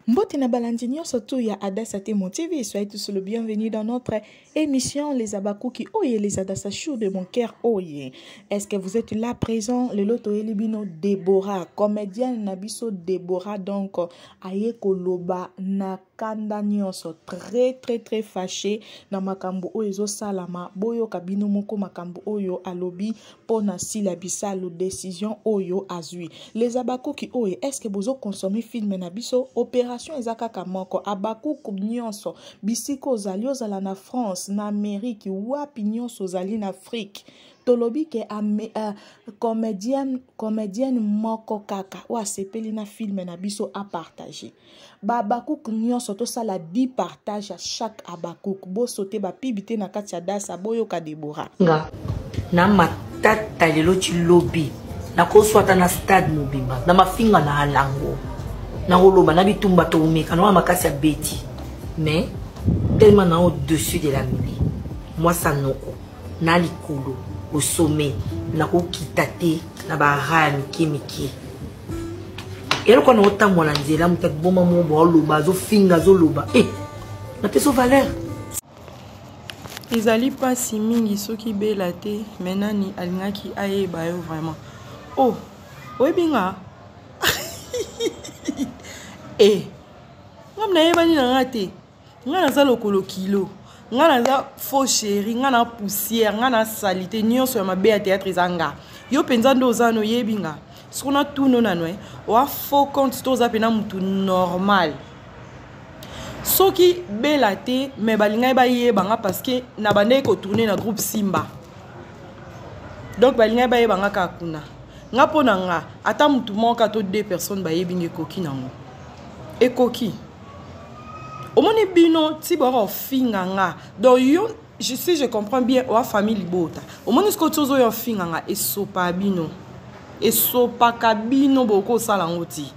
Mbote na balandi nyonso tu ya Adassa Temo TV, soyez tous le bienvenu dans notre émission Les Abakuki Oye, les Adassa Chou de mon cœur Oye. Est-ce que vous êtes là présent? Le loto elibino Deborah, comédienne na biso Deborah donc aye koloba na kanda nyonso très très très fâché na makambo oyo ezosalama boyoka bino moko makambo oyo alobi mpo na sila bisalu decision oyo azwi les abakuki oyo estce bozo consommer filme na biso operation eza kaka moko abakuku nyonso bisika ozali ozala na france na amerike wapi nyonso ozali na afrique tolobi ke uh, comedienne, comedienne moko kaka oyo asepeli na filme na biso apartage bahabakuku nyonso tosala di partage ya chaque habakuku bosote bapibi te na kati ya dasa boyoka debora nga na matata lelo ti lobi nakoswata na stade mobimba na mafinga na alango nakoloba na bitumba tokomeka nawana makasi ya beti mais tellement na au-dessus de la mili mwasa noko na likolo au sommet nakokita te na baraya mike mike eloko wana otambwa na nzela moto akiboma moko baoloba azofinga azoloba e eh, napeso valeur ezali mpasi mingi soki bela te me nani alingaki ayeba yo vraiment o oh, oyebi nga e eh, ngam nayebani na nga te nga naza lokolo kilo nga naza faux chéri nga na poussière nga na salite nyonso ya mabe ya théâtre eza nga yo mpenza nde oza no oyebi nga soko na tuno nano e eh, oa faux compte to oza mpena motu normal soki bela te me balingaki bayeba nga parceke na bandaki kotourne na groupe simba donc balingaki bayeba nga kaka kuna nga mpo na nga ata motu moko ka to deux personnes bayebi nga ekoki nango ekoki omoni bino ti boyaka ofinga nga donc yo je, si je comprends bien oa famille libota omoni sikoyo ti ozoya ofinga nga esopa bino esopaka bino bokoki osala yango ti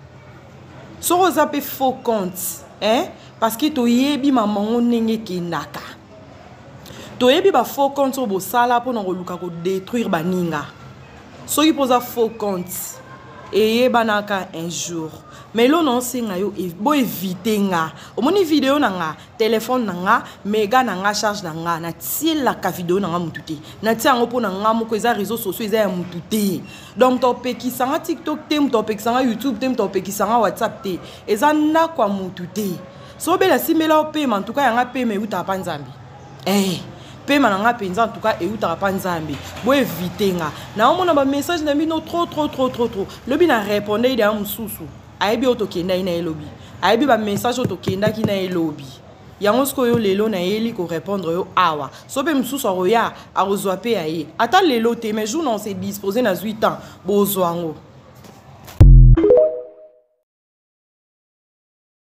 soki oza mpe faux compte eh? parce que toyebi mamango ndenge ekendaka toyebi ba faux compte oyo bosala mpona koluka kodétruire baninga soki mpoza faux compte eyebanaka un jour mais lona osenga yo e, boevite nga omoni video na nga telefone na nga mega na nga charge na nga natielaka video na nga motu te natia yango mpo na nga moko eza réseau sociaux eza ya motu te donc topekisa nga tiktok te moto apekisa nga youtube te moto apekisa nga whatsapp te eza ndako ya motu te so bela simela yo pema ntuka yanga pema eutaka mpa nzambe ee eh, pema na ngai mpenza ntuka eutaka mpa nzambe boevite nga naomona bamessage na bino tro tro tro tro tro lobi na reponde ye deya mosusu ayebi oyo tokendaki na ye lobi ayebi bamessage oyo tokendaki na ye lobi yango sikoyo lelo nayeli korepondre yo awa so mpe mosusu akoya akozwa mpe ya ye ata lelo te mais jour na ose dispose nazwi temps bozwa yango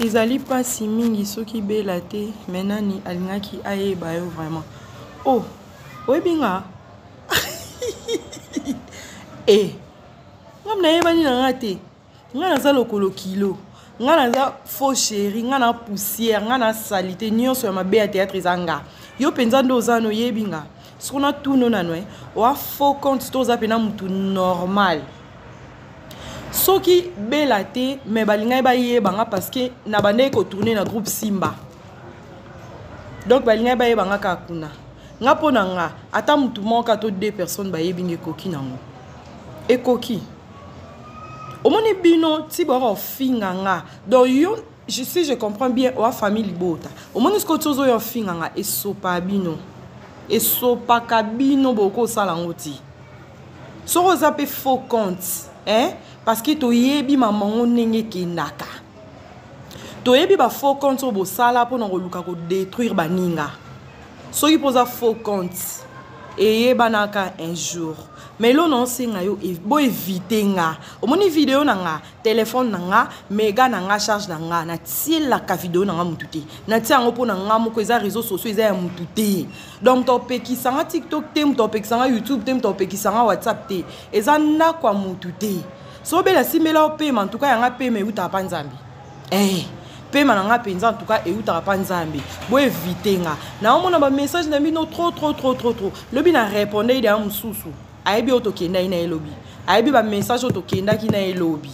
ezali mpasi mingi soki bela te me nani alingaki ayeba yo vraiment o oh, oyebi nga e eh, ngam nayebani na nga te nga naza lokolo kilo nga naza faux chéri nga na poussière nga na salite nyonso ya mabe ya théâtre eza nga yo mpenza nde oza noyebi nga soki natuno nano e oa faux compte to oza mpena motu normal soki bela te me balingaki bayeba nga parce que nabandaki kotourne na groupe simba donc balingaki bayeba nga kaka kuna nga mpo na nga ata motu moko ka to deux personnes bayebi nga ekoki nango ekoki omoni bino ti boyaka kofinga nga donc yo Je sais, je comprends bien. Oa famille libota. Omoni siko tiozo yo finga nga esopa bino. Esopa kabino boko sala ngoti. Soko za pe faux compte, hein? Parce que to yebi maman ngo nenge kendaka. To yebi ba faux compte obo sala po na ko luka ko détruire ba ninga. Soki poza faux compte. Eye banaka un jour. Mais lo na osenga yo bo éviter nga. Omoni vidéo na nga. telefone na nga mega na nga charge na nga natielaka video na nga motu te natia yango mpo na nga moko eza réseau sociaux eza ya motu te donc topekisa nga tiktok te moto apekisa nga youtube te moto apekisa nga whatsapp te eza ndako ya motu te so obele asimela yo pema ntuka yanga pema eutaka mpa nzambe ee eh, pema na nga mpenza ntuka eutaka mpa nzambe boevite nga naomona bamessage na bino tro tro tro tro tro lobi na repondei deya mosusu ayebi oyo tokendaki na ye lobi ayebi bamessage oyo tokendaki na ye lobi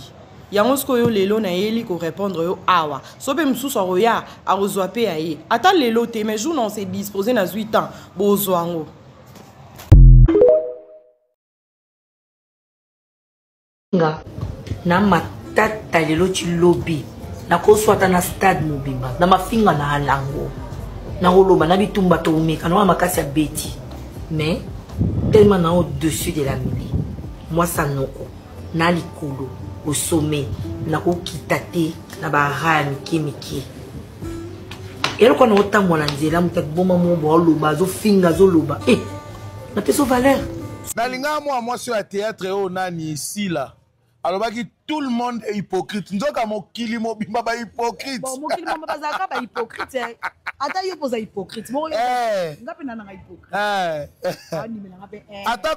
yango sikoyo lelo nayeli korépondre yo awa so mpe mosusu akoya akozwa mpe ya ye ata lelo te mais jour na ose dispose nazwi temps bozwa yango nga na matata lelo ti lobi nakoswata na stade mobimba na mafinga na alango nakoloba na bitumba toumeka nawana makasi ya beti mais tellement na au dessus de la mili mwasa noko na likolo au sommet nakokita te na baraya mike mike eloko wana otambola nzela moto akiboma moko baoloba azofinga azoloba e eh, napeso valeur nalingaka mwa mwasi oyo ya théâtre oyo nani sila alobaki tout le monde est hypocrite nzoka mokili mobimba bahypocrite mokili mobimba bazalaka bahypocrite eh. ata yo mpoza hypocrite moko eh. nga mpe nananga hypocrite eh. ata